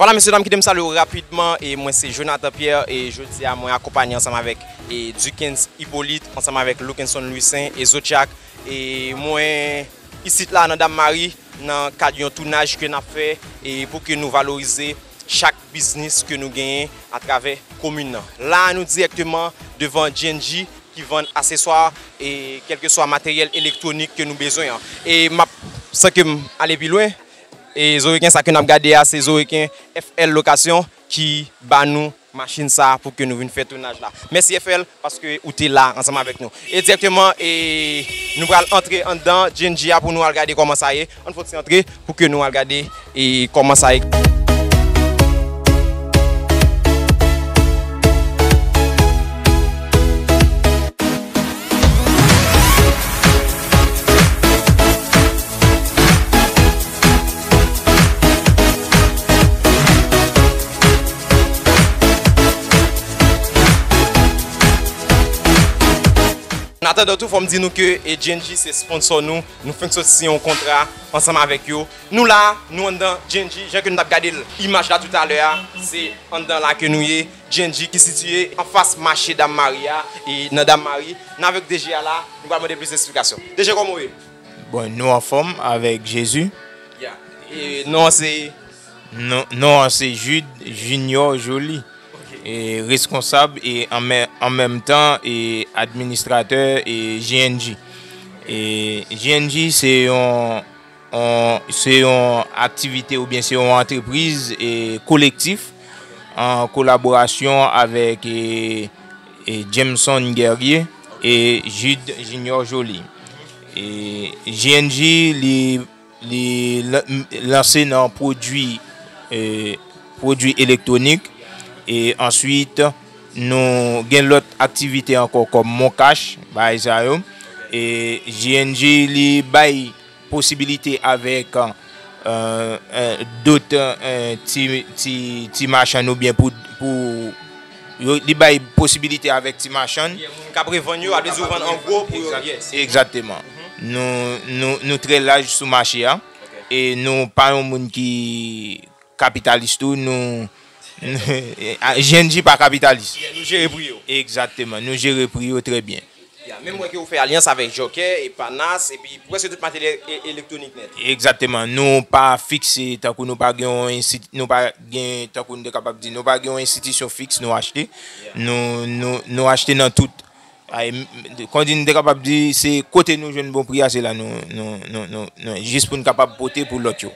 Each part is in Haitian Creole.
Vwala mesye dam kite m salye w rapidman e mwen se Jonathan Pierre e jodi a mwen akonpanye ansanm avèk e Dukens Hyppolite ansanm avèk Lukenson Louissaint e Zodiac e mwen isit la nan Dame Marie nan kad yon tounaj ke nap fè e pou ke nou valorize chak biznis ke nou genyen a travè komin nan. La a nou dirèkteman devan GNJ ki vann aseswa e kelkeswa materyèl elektwonik ke nou bezwen an e map san ke m ale pi lwen E zo reken sa ke nap gade a se zo reken FL location ki ba nou machin sa pou ke nou vin fè tounaj la. Mèsi FL paske ou te la ansanm avèk nou. E direkteman e nou pral antre anndan GNG a pou nou al gade kòman sa ye. Ann fòk se antre pou ke nou al gade e kòman sa ye. An atandan tou fòm di nou ke GNG se sponsor nou, nou fenk sot siyen yon kontra ansanm avèk yo. Nou la, nou anndan GNG, jan ke nou tap gade imaj la tout alè a, se anndan la ke nou ye. GNG ki sitiye anfas mache Dam Mari a, e nan Dam Mari. Nan avèk DG a la, nou pral mande plis esplikasyon. DG kòman ou ye? Bon nou anfom avek jezi. Ya e non an se. Non an se jude junior joli. E reskonsab e an menm tan e administratè e jng. E jng se yon se yon aktivite ou byen se yon antrepriz e kolektif an kolaborasyon avek e. Jameson Guerrier e Jude Junior Joly. JNJ li lanse nan pwodwi elektwonik e answit nou gen lòt aktivite ankò kòm moncash, bagay sa yo. JNJ li bay. Posibilite avèk dot ti machann oubyen pou li bay posibilite avèk ti machann. K ap revann yo, alèz yo vann an gwo pou yo. Egzateman. Nou trè laj sou mache a e nou pa yon moun ki kapitalis tou. GNG pa kapitalis. Yeah, nou jere pri yo. Egzakteman, nou jere pri yo trè byen. Yeah, menm wè ke ou fè alyans avèk jòkè, epanas, epi prèske tout materyèl elektwonik nèt. Egzakteman, nou pa fikse tankou nou pa gen yon ensi, nou pa gen tankou nou te kapab di, nou pa gen yon enstitisyon fiks nou achte. Yeah. Nou achte nan tout. Kondin m te kapab di se kote nou jwenn bon pri a se la nou jis pou n kapab pote pou lòt yo.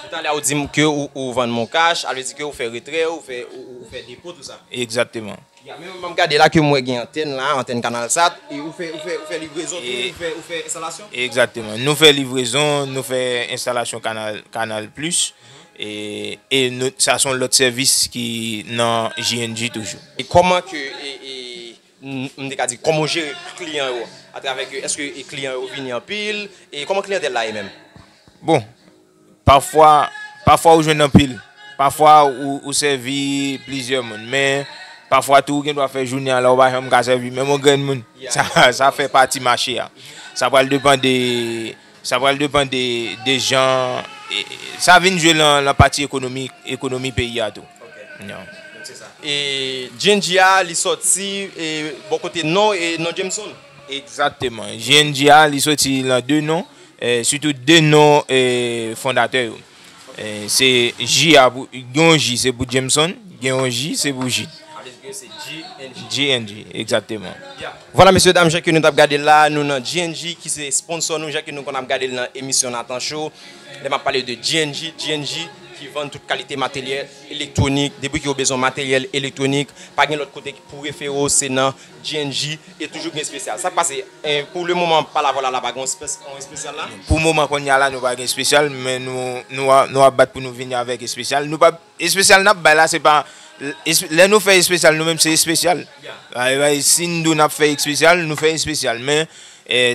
Toutalè a ou di m ke ou vann moncash, alvle di ke ou fè retrè, ou fè depo tou sa. Egzakteman. Ya menm m ap gade la ke m wè gen antèn la, antèn kanalsat, e ou fè livrezon tou, ou fè enstalasyon? Egzakteman. Nou fè livrezon, nou fè enstalasyon kanal plis. E sa son lot sevis ki nan jnj toujou. Koman ke m te ka di koman w jere kliyan yo a travè ke eske kliyan yo vini anpil e koman kliyantèl la ye menm? Bon pafwa pafwa ou jwenn anpil pafwa ou sèvi plizyè moun men pafwa tou ou gen dwa fè jounen an la ou pa janm ka sèvi menm yon grenn moun sa fè pati mache a sa pral depan de Sa pral depan de de jan sa vin jwe lan pati ekonomi ekonomi peyi a tou. E jnj a li soti bò kote nò e non Jameson? Egzakteman. Jnj a li soti lan de non, sitou de non fondatè yo. Se ji a pou, gen yon ji se pou Jameson, gen yon ji se pou Jid. GNG, exactement. Voilà mesye dam, jan ke nou tap gade la, nou nan GNG ki se sponsor nou, jan ke nou konn ap gade l nan emisyon Nathan Show. Lè map pale de GNG, GNG ki vann tout kalite materyèl elektronik, depi ke ou bezwen materyèl elektronik, pa gen lòt kote pou refere w, se nan. GNJ e toujou gen spesyal. Sak pase pou le moman pa la vola la pa gen yon spesyal la? Pou moman konnya la nou pa gen spesyal men nou ap bat pou nou vini avèk espesyal. Nou pa espesyal nap bay la se pa lè nou fè espesyal nou menm se espesyal. Si nou dou nap fè espesyal nou fè espesyal men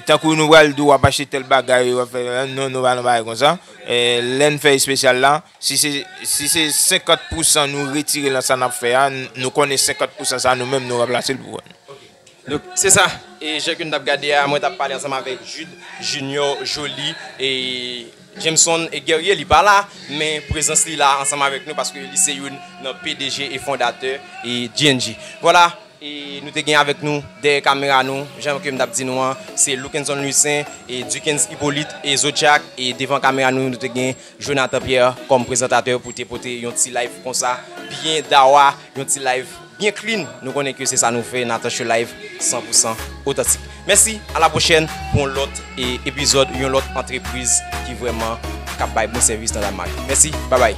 tankou nou pral dou wap achte tèl bagay wap fè non nou pa nan bagay konsa. Lè nou fè espesyal la Si se 50 pousan nou retire lan sa nap fè a, nou konnen 50 pousan sa nou menm nou ranplase l pou kont nou. Donk, se sa. E jan ke nou tap gade a, mwen tap pale ansanm avèk Jude, Junior, Joly, e Jameson e Guerrier li pa la, men prezans li la ansanm avèk nou paske li se youn nan pdg e fondatè e GNG. Vwala, e nou te gen avèk nou dèyè kamera nou, jan ke m tap di nou an, se Luckenzon Louissaint, e Duckens Hyppolite, e Zodiac, e devan kamera nou, nou te gen. Jonathan Pierre kòm prezantatè pou te pote yon ti live konsa byen dawa, yon ti live byen clean, nou konnen ke se sa nou fè Nathan Show live 100 pou 100 otantik. Mèsi a la pwochèn pou yon lòt epizòd yon lòt antrepriz ki vrèman kap bay bon sèvis nan Danemark. Mèsi, babay.